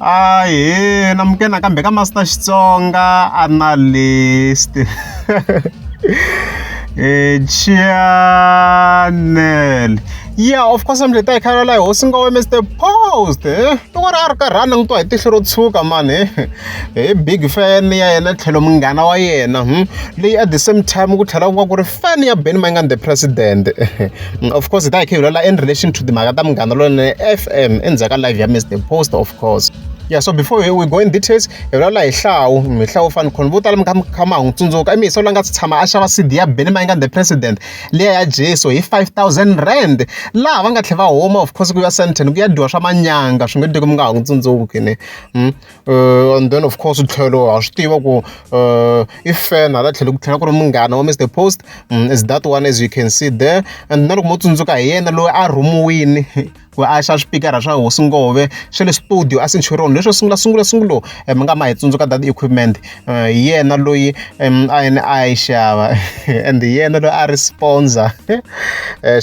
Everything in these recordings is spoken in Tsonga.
Ahee na muke nakambe ka Master Xitsonga Analyst Channel yeah of course I'm leta hi khayela laha hosi nga we Mr Post eh loko ri a ri karhani ni twa hi tihlo ro tshuka man eh hi big fan ya yena tlhelo munghana wa yena leyi at the same time ku tlhela ku va ku ri fan ya Benny Mayengani the president of course hi ta hi khe hi lwela in relation to timhaka ta munghana lonene fm endzhaku ka live ya miss the post of course yeah so before we, we go in details hi vulavula hi hlawu hi hlawu fani khona vo tala mi kha mi kha ma ha n'wi tsundzuka i mihiso la nga si tshama a xava cd ya benny mayinga the president leya ya jesu hi 5000 rand laha va nga tlhe va huma of course ku ya senten ku ya dyiwa swa manyanga swi nge teki mi nga ha n'wi tsundzuki ne hmm? Uh, and then of course tlhelo ha swi tiva ku uh, i fan hala tlhelo ku tlhela ku ri munghana wa mr post um, is that one as you can see there and na loko mo tsundzuka hi yena loyi a rhumiwini ku a xa swipikara swa hosi ngove swa le studio a centurion leswo sungula sungula sungulo eh, mi nga ma hi tsundzuka that equipment eh, hi yena loyi a yena a yi xava and hi yena loyi a ri sponsor eh,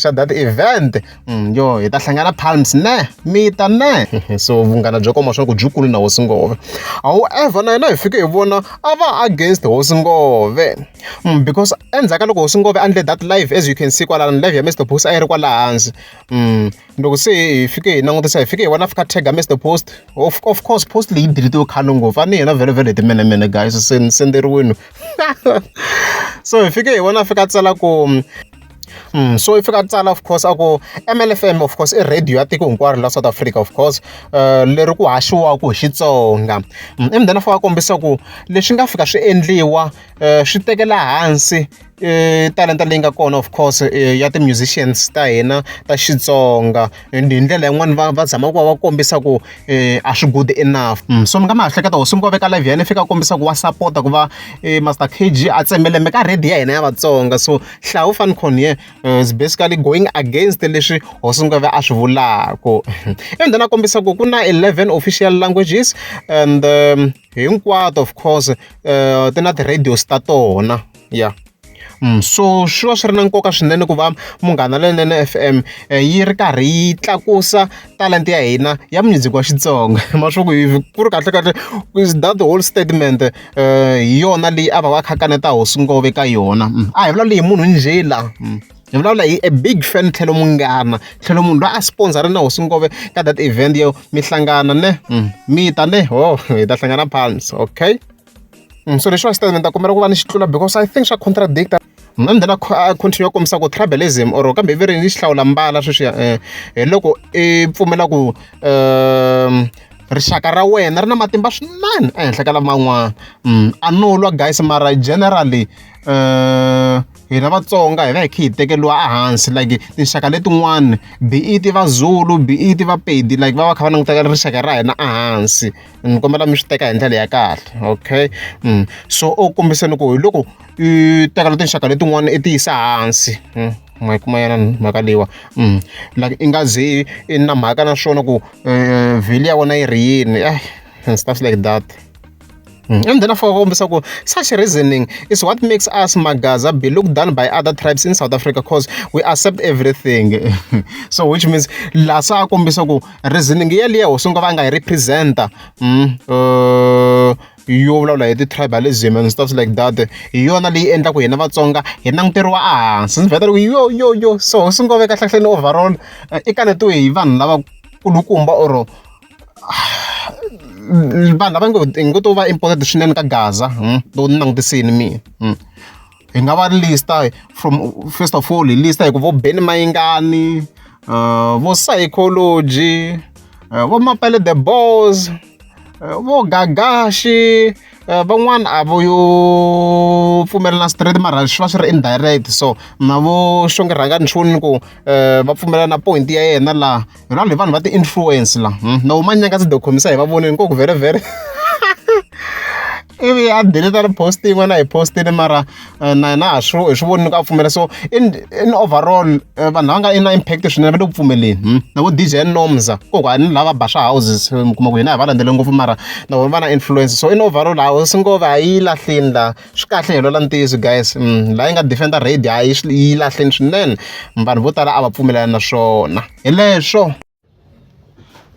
xa that event Mm, yo hi ta hlangana palms ne mi ta ne so vunghana byo koma swa ku byi kulu na hosi ngove however na yena hi fike hi vona a va against hosi ngove mm, because endzhaku ka loko hosi ngove a ndle that live as you can see kwalano live ya mr post a yi ri kwala hansi mm, loko se hi fike hi langutisa hi fike hi vona fika tag mr post of, of course post leyi diritiwe khano ngopfu a ni yena vhele vhele hi timenemene guys senderiwini so hi fike hi vona fika tsala ku so i fika a tsala of course a ku M_L F_M of course i radio ya tiko hinkwaro la South Africa of course leri ku haxiwaka hi Xitsonga and then a fika a kombisa ku leswi nga fika swi endliwa swi tekela hansi talenta leyi nga kona of course ya ti-musicians ta hina ta Xitsonga. and hi ndlela yin'wani va va zama ku va va kombisa ku um a swi good enough mm. so mi nga ma hleketa hosi mi veka live ya yena fika kombisa ku wa sapota ku va eh, master k g a tsemelembe ka redi ya hina ya vatsonga so hlawu fanicon ye eh, is basically going against leswi hosi mi a swi vulaka and then a kombisa ku ku na 11 official languages and um, hinkwato of course um ti na ti-radios ta tona ya so swi va swi ri na nkoka swinene ku va Munghana Lonene F_M yi ri karhi yi tlakusa talenta ya hina ya music wa Xitsonga hi mhaka swaku ku ri kahlekahle that whole statement hi yona leyi a va va kha a kaneta hosi ngoma eka yona a hi vulavuli hi munhu njhe la hi vulavula hi a big fan tlhelo munghana tlhelo munhu loyi a sponsor-a na hosi ngome ka that event yo mi hlangana ne mi ta ne ho hi ta hlangana phandle okay. Mm, so leswiwani statement ta kombela ku va ni xitlula because i think swa contradict mina ni then a continue kombisa ku tribalism or kambe ivi ri ni xi hlawula mbala sweswiya um eh, hi loko i pfumela ku um rixaka ra wena ri na matimba swinene ehenhla ka laman'wana mm, a no lwa guys mara generally um hina vatsonga hi va hi khe hi tekeriwa ehansi like tinxaka letin'wana be it vazulu be it vapedi like va va kha va languteka rixaka ra hina ehansi ni kombela mi swi teka hi ndlela ya kahle okay so u kombisa ni ku hi loko i teka na tinxaka letin'wana i ti yisa hansi ma yi kuma yena mhaka leyiwa like i nga ze i na mhaka na swona ku eh, vheli ya wena yi ri yini eh and stuff like that Mm. And then for Ombisako, such reasoning is what makes us Magaza be looked down by other tribes in South Africa because we accept everything. so which means lasa kombisako Reasoning yaliya hosi nga va nga yi represent-a yo vulavula hi ti-tribalism and stuff like that hi yona leyi endlaku hina vatsonga hi languteriwa ehansi ndzi vheta loko yo yo yo so hosi ngo veka hlahleni overall i kanetiwe hi vanhu lava kulukumba or vanhu lava ngo ngo to va important swinene ka gaza loko ni langutisini mina. hi nga va lista from first of all hi lista hi ku vo beni mayingani uh, vo psychology uh, vo mapele the balls uh, vo gagashi Eh, van'wana a vo yo pfumelela na straight mara swi va swi ri indirect so na vo xonge rhanga nchuni ku um va pfumelela na point ya yena laha hi vanhu hi vanhu va ti-influence la hmm? na wu manyaka ndzi dokhomisa hi va voneni koku vhere vhere ivi a deleta ri post yin'wana hi postini mara eh, na na ha swi hi swi voni ni ku a pfumela so in in overall eh, vanhu lava nga i na impact swinene va le ku pfumeleni hmm? na vo dj nomza koku a ni lava ba swa houses eh, mi kuma ku hina hi va landzele ngopfu mara na vona va na influence so in overall a hosi ngove a yi lahlini la Swi kahle hi lwela ntiyiso guys la yi nga defender raid a yi swi yi lahleni swinene vanhu vo tala a va pfumelelani na swona hi leswo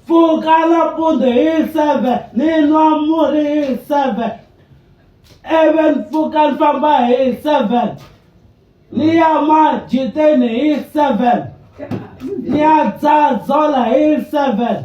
pfuka nampundzu hi seven ni nwa murhi hi seven ivi ni pfuka ni famba hi seven ni ya majiteni hi seven ni ya dzadzola hi seven